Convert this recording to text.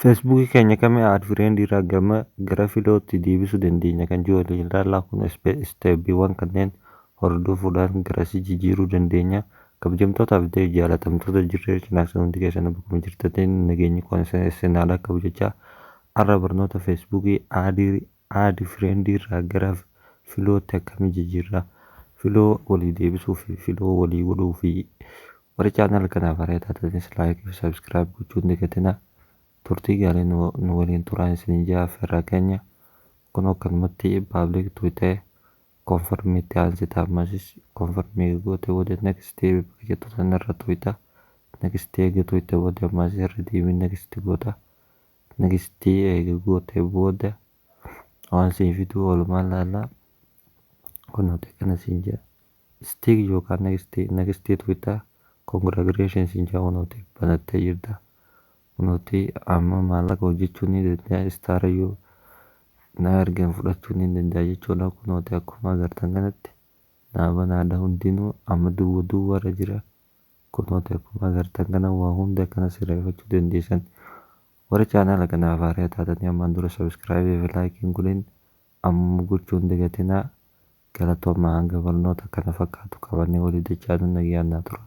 Facebook keenya kami add friend irraa gama gara filootti deebisuu dandeenya kan jiru waliin ilaallaa kun isteeppiiwwan kanneen hordofuudhaan garasii jijjiiruu dandeenya kabajamtootaa fi jaalatamtoota jirree cinaaksa hundi keessan bakkuma jirtanitti nageenyi kun isin haadha kabajacha arra barnoota Facebook aadii Add Friend irraa gara Filootti akkami jijjiirra? Filoo walii deebisuu fi filoo walii godhuu fi Warri channel kanaaf haaraa taatanis like fi subscribe gochuu hin dagatina. Turtii gaarii nu nu waliin turaa isiniin jaa affeerraa keenya. Kunoo akkanumatti public to ta'e confirm itti aansita ammasis confirm eega gootee booda next bakka jettu sana irra tuqxa. Next eega tuqxee booda ammasis irra deebiin next goota. Nigistii eega gootee booda waan sii fiduu walumaan laallaa. Kun nuti akkana siin jaa. Stig yookaan Nigistii Nigistii Twitter congratulations siin jaa unuti banattee jirta. Unuti amma maallaqa hojjechuu ni danda'a star yoo na ergan fudhachuu ni danda'a jechuudha. Kunooti akkuma agartan kanatti naa banaadha hundinuu amma duwwa duwwarra jira. Akkuma agartan kana waa hunda akkana sirreeffachuu dandeessan. Warri chaanaala kanaaf haaraa taatanii ammaan dura subscribe fi like hin godhin amma gochuu hin dagatinaa. Galatoomaa hanga barnoota kana fakkaatu qabannee walii dachaanu nagaan naa turaa.